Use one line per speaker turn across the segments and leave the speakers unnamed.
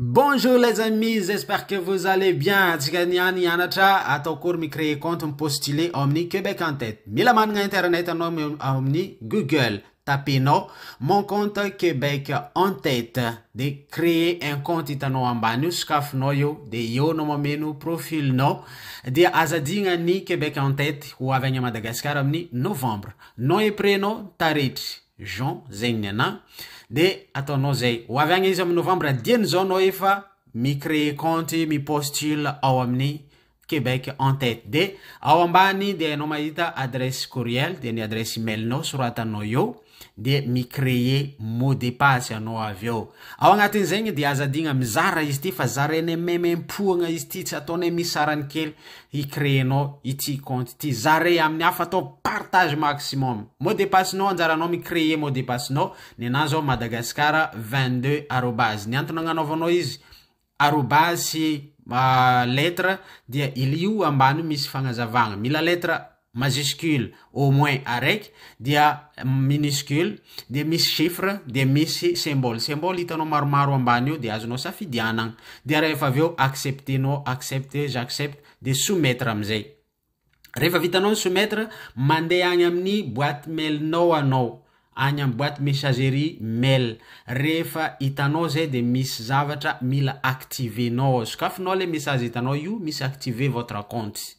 Bonjour les amis, j'espère que vous allez bien. Antsika ny any hianatra atao akory mi-créer compte, mi-postuler ao amin'ny Québec en tête. Mila manana internet anao ao amin'ny Google. Tapenao mon compte Québec en tête de créer un compte hitanao ambany io sokafinao io de eo no mameno profilinao dia aza digna ny Québec en tête ho avy any Madagascar amin'ny novembre. Nom et prénom taretry. Jean, zay ny anà, de ataonao zay, ho avy agny izy am novembre dimy izao anao efa mi créer compte mi postule ao amin'ny Québec en tête de ao ambany dia enao mahita adresse courriel dia ny adresse email nao soratanao eo de mi créer mot de passe anao avy eo ao agnatin'izegny dia aza adigna mizara izy ty fa zarainay memem-poagna izy ty tsy ataonay misy sarany kely hi créer nao ity compte ity. Zare amin'ny hafa atao partage maximum. Mot de passe nao anjaranao mi créer mot de passe nao. Ny anahy zao madagascar 22 arobase. Ny antony agnanaovanao izy arobase sy lettre dia ilio ambany io misy fagnazavagna. Mila lettre. majuscule au moins araiky dia minuscule dia misy chiffre dia misy symbole symbole hitanao maromaro ambany eo dia azonao safidianagna dia rehefa avy eo accepter nao accepte j'accepte dia soumettre amizay rehefa vitanao ny soumettre mandeha agny amin'ny boite mail nao anao any am boite messagerie mail rehefa hitanao zay de misy zavatra mila activer nao ao sokafinao le message hitanao io misy activer votre compte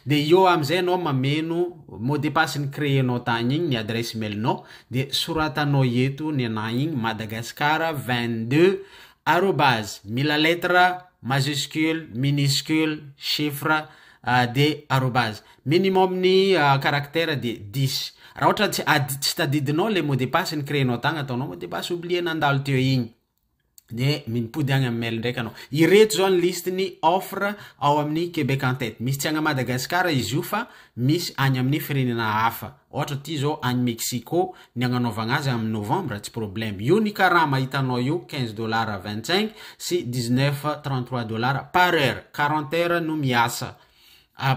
de eo amzay anao mameno mot de passe ny cree nao tagny igny ny adresse mail nao de soratanao eto ny anah igny madagascar 22 arobase mila lettre majuscule miniscule chiffre de arobase. Minimum ny caractère de dix. Raha ohatra tsy ady tsy tadidinao le mot de passe ny créer-nao tagna ataonao mot de passe oublier nandalo teo igny. De mipody agny amin'ny mail ndraiky anao. Ireto zao ny liste ny offre ao amin'ny Québec en tête. Misy tsy agna Madagascar izy io fa misy agny amin'ny firenena hafa. Ohatra aty zao any Mexico ny agnanaovagna azy amy novembre tsy problème. Io ny karama hitanao io quinze dollars vingt cinq sy dix neuf trente trois dollars par heure, quarante heures no miasa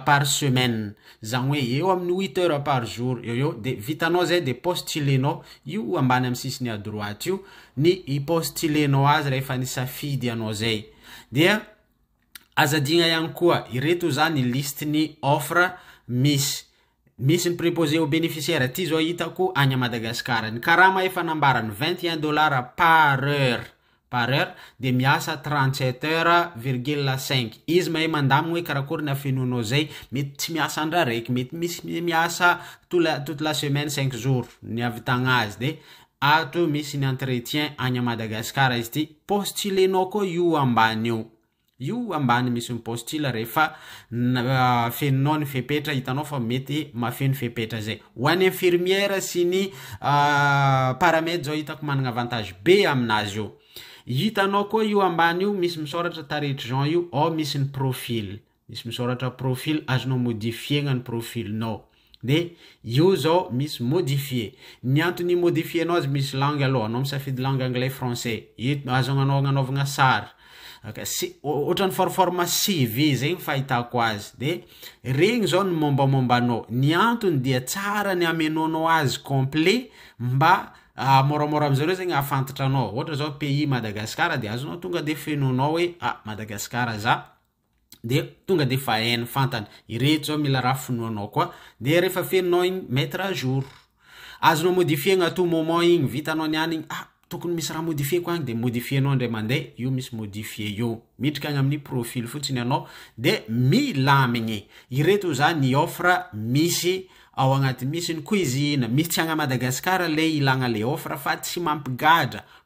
par semaine zagny hoe eo amy ny huit heures par jour eo eo de vitanao zay de postulenao io ambany amy sisiny à droite io ny hi postulenao azy rehefa nisafidy anao zay. Dia aza adigna ihany koa ireto zany liste ny offre misy Misy ny preposé aux bénéficiaires aty zao hitako any à Madagascar. Ny karama efa nambarany vingt et un dollars par heure par heure dia miasa trente sept heures virgule cinq. Izy mahay mandamigny hoe karakory ny afenoanao zay. Mety tsy miasa andro araiky, mety misy miasa tout la toute la semaine cinq jours ny ahavitagna azy dia ato misy ny entretien any à Madagascar izy ity. Postulenao koa io ambany io. Io ambany misy ny postila rehefa afeninao ny fepetra hitanao fa mety mahafeno fepetra zay. Ho an'ny infirmière sy ny paramed zao hitako managna avantage be aminazy io. Hitanao koa io ambany io misy misaoratra tarehitr'i Jean io ao misy ny profil. Misy misaoratra profil azonao modifier-gna ny profil-nao. De io zao misy modifier. Ny antony imodifier-nao azy misy langue aloha, anao misafidy langue anglais, français. Io azo agnanao agnanaovagna sary. Si- ohatran'ny forforme CV zay ny fahitako azy. De regny zao ny mombamomba anao. Ny antony dia tsara ny amenoanao azy complet mba moramora am'zareo zegny ahafantatra anao. Ohatra zao pays Madagascar de azonao tonga de fenoinao hoe ah Madagascar za. dia tonga dia efa hainy fantany ireto zao mila raha finoanao koa dia rehefa fenonao igny mettre à jour azonao modifier-gna à tout moment igny vitanao ny any igny ah tokony misy raha modifier-ko agny dia modifier-nao indray mandeha io misy modifier io miditra agny amin'ny profil fotsiny ianao dia milamigny ireto zany ny offre misy ao agnaty misy ny cuisine misy tsy agny à Madagascar le ilagna le offre fa tsy mampigadra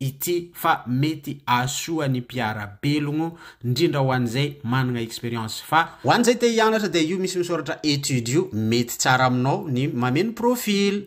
ity fa mety ahasoa ny mpiara belogno ndrindra ho an'izay managna experience fa Ho an'izay te hianatra dia io misy misoratra études io mety tsara aminao ny mameno profil.